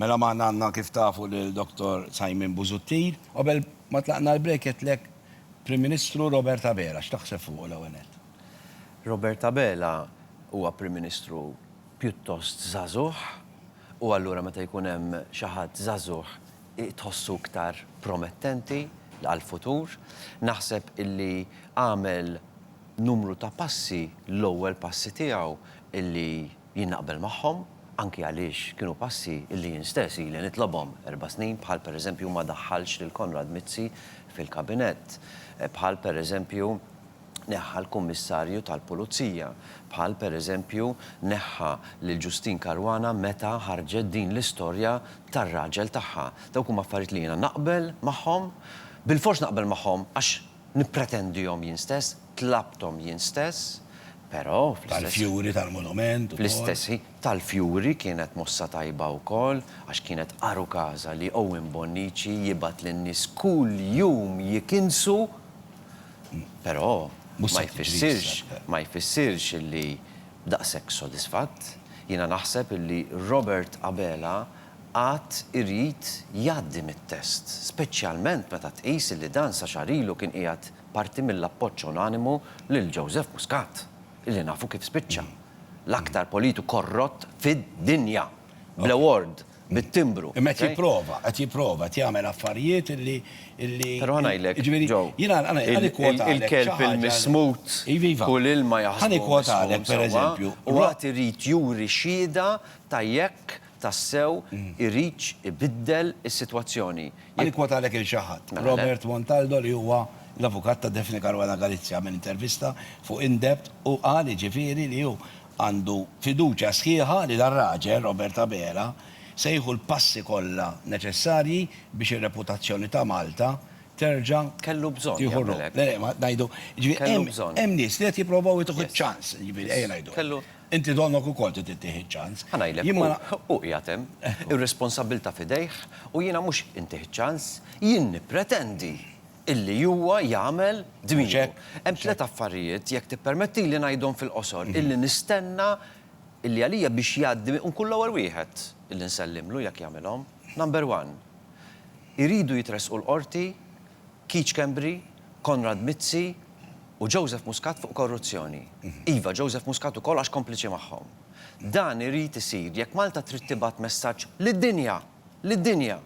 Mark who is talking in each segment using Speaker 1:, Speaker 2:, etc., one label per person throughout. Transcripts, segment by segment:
Speaker 1: Mela magħna għandna kif tafu lil Dottor Simon Busuttil. Qabel ma tlaqna l-break għedtlek Prim Ministru Robert Abela. X'taħseb fuqu l-ewwel nett? Robert Abela huwa Prim Ministru pjuttost żagħżugħ u allura meta jkun hemm xi ħadd żagħżugħ tħossu iktar promettenti għall-futur. Naħseb illi għamel numru ta' passi, l-ewwel passi tiegħu illi, Jien naqbel magħhom, anki għaliex kienu passi li jien stess ili nitlobhom erba' snin, bħal pereżempju ma daħħalx lil Konrad Mizzi fil-Kabinett, bħal pereżempju neħħa l-Kummissarju tal-Pulizija, bħal pereżempju neħħa lil Justyne Caruana meta ħarġet din l-istorja tar-raġel tagħha. Dawk huma affarijiet li jiena naqbel magħhom, bilfors naqbel magħhom għax Nippretendihom jien stess, tlabthom jien stess, però fl-istess. Tal-fjuri tal-monument ukoll. Fl-istess ħin, tal-fjuri kienet mossa tajba wkoll, għax kienet għar u każa li Owen Bonnici jibgħat lin-nies kull jum jikinsu, però ma jfissirx, ma jfissirx illi daqshekk sodisfatt. Jiena naħseb illi Robert Abela għad irid jgħaddi mit-test, speċjalment meta tqis illi dan sa xahar ilu kien qiegħed parti mill-appoġġ unanimu lil Joseph Muscat, illi nafu kif spiċċa, l-aktar politu korrott fid-dinja, bl-award, bit-timbru. Imma qed jipprova, qed jipprova, qed jagħmel affarijiet illi, illi, Però ħa ngħidlek, Joe, il-kelb il-mismut u l-ilma jaħsbuhom mismum sewwa, u għad irid juri xhieda ta' jekk tassew iridx ibiddel is-sitwazzjoni. Ħa nikkwotalek lil xi ħadd, Robert Montaldo li huwa l-avukat ta' Daphne Caruana Galizia għamel intervista fuq Indepth u qal jiġifieri li hu għandu fiduċja sħiħa li dar-raġel, Robert Abela, se jieħu l-passi kollha neċessarji biex ir-reputazzjoni ta' Malta terġa' Kellu bżonn jagħmel hekk. Kellu bżonn. Hemm nies li qed jipprovaw jtuh iċ-ċans, jiġifieri ejja ngħidu hekk. Inti donnok ukoll trid ittih iċ-ċans. Ħa ngħidlek, Jien ma na. hu, hu qiegħed hemm, ir-responsabbiltà f'idejh u jiena mhux intih iċ-ċans, jien nippretendi illi huwa jagħmel dmiru. Mhux hekk? Hemm tliet affarijiet, jekk tippermettili ngħidhom fil-qosor, illi nistenna illi għalija biex jgħaddi u nkun l-ewwel wieħed illi nsellimlu jekk jagħmilhom. Number one, iridu jitressqu l-Qorti Keith Schembri, Konrad Mizzi u Joseph Muscat fuq korruzzjoni. Iva, Joseph Muscat ukoll għax kompliċi magħhom. Dan irid isir jekk Malta trid tibgħat messaġġ lid-dinja, lid-dinja,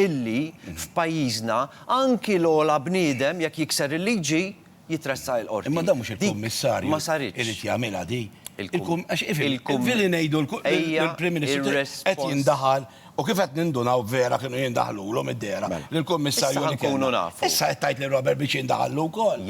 Speaker 1: illi f'pajjiżna anki l-ogħla bniedem jekk jikser il-liġi, jitressaq il-Qorti. Imma dan mhux il-Kummissarju irid jagħmilha din. Fili ngħidu l-Prim Ministru qed jindaħal u kif qed nindunaw vera kienu jindaħlulhom id-dehra lill-Kummissarju li kellna. Issa qed tgħid li Robert Beach jindaħallu wkoll.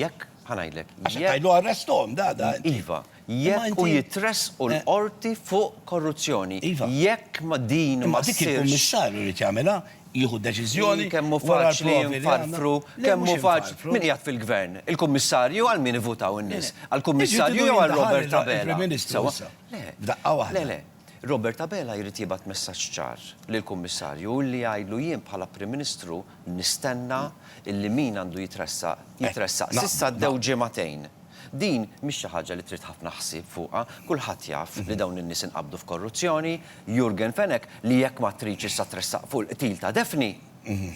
Speaker 1: Għax qed tgħidlu arresthom, da, da. Iva. jekk u jitressqu l-Qorti fuq korruzzjoni. Jekk ma din ma ssirx. Imma dik il-Kummissarju jrid jagħmilha, jieħu deċiżjoni wara l-provi li għandna. Le mhux infarfru. Min qiegħed fil-Gvern? Il-Kummissarju għal min ivvutaw in-nies? Għall-Kummissarju jew għal Robert Abela? Iġġifieri jridu jintlaħaq il-Prim Ministru issa, f'daqqa waħda. Le, le. Robert Abela jrid jibgħat messaġġ ċar lill-Kummissarju u li jgħidlu jien bħala Prim Ministru nistenna illi min għandu jitressaq, jitressaq. S'issa għaddew ġimgħatejn. Din mhix xi ħaġa li trid ħafna ħsieb fuqha. Kulħadd jaf li dawn in-nies inqabdu f'korruzzjoni. Jurgen Fenech, li jekk ma tridx issa tressaq fuq il-qtil ta' Daphne,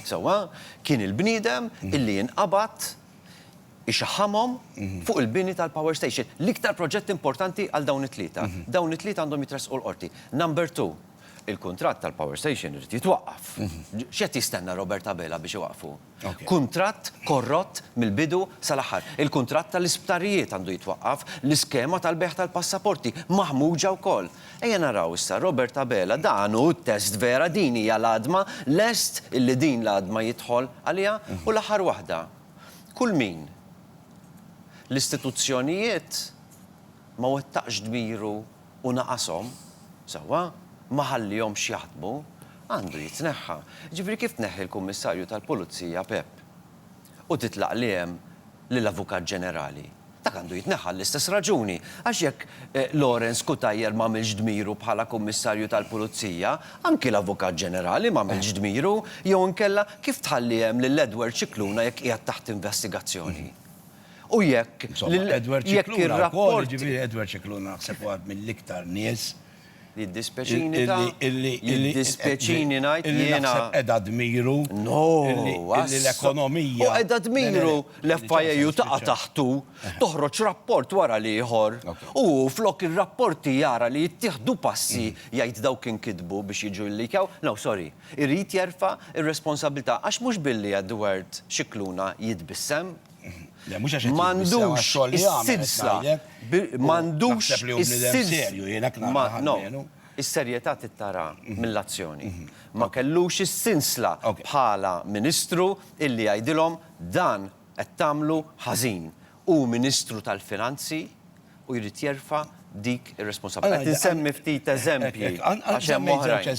Speaker 1: sewwa, kien il-bniedem illi inqabad ixaħħamhom fuq il-bini tal-power station. L-iktar proġett importanti għal dawn it-tlieta. Dawn it-tlieta għandhom jitressqu l-Qorti. Number two, il-kuntratt tal-power station irid jitwaqqaf. X'qed jistenna Robert Abela biex iwaqqfu? Kuntratt korrott mill-bidu sal-aħħar. Il-kuntratt tal-isptarijiet għandu jitwaqqaf, l-iskema tal-bejgħ tal-passaporti, maħmuġa wkoll. Ejja naraw issa, Robert Abela, dan hu t-test vera, din hija l-għadma, lest illi din l-għadma jidħol għaliha? U l-aħħar waħda, Kull min, l-istituzzjonijiet, ma wettaqx dmiru u naqashom, sewwa, ma ħallihomx jaħdmu, għandu jitneħħa. Jiġifieri kif tneħħi l-Kummissarju tal-Pulizija Pepp u titlaq li hemm lill-Avukat Ġenerali? Dak għandu jitneħħa għall-istess raġuni, għax jekk Lawrence Cutajar m'għamilx dmiru bħala Kummissarju tal-Pulizija, anki l-Avukat Ġenerali m'għamilx dmiru, jew inkella kif tħalli hemm lil Edward Scicluna jekk qiegħed taħt investigazzjoni? U jekk, jekk ir-rapporti. Insomma, Edward Scicluna wkoll, jiġifieri Edward Scicluna naħseb huwa mill-iktar nies, Jiddispjaċini ta', jiddispjaċini ngħid li jiena. Illi naħseb qiegħda dmiru. No, assu. L-ekonomija. U qiegħda dmiru l-FIAU taqa' taħtu, toħroġ rapport wara l-ieħor. U hu flok ir-rapporti jara li jittieħdu passi jgħid dawk inkitbu biex jiġu jlikjaw, no sorry, irid jerfa' r-responsabbiltà għax mhux billi Edward Scicluna jitbissem, M'għandux is-silsla. M'għandux is-silsla. Is-serjetà tittara mill-azzjoni. Ma kellux is-silsla bħala Ministru illi jgħidilhom dan qed tagħmlu ħażin. Hu Ministru tal-Finanzi u jrid jerfa' dik ir-responsabbiltà. Qed insemmi ftit eżempji għax hemm oħrajn.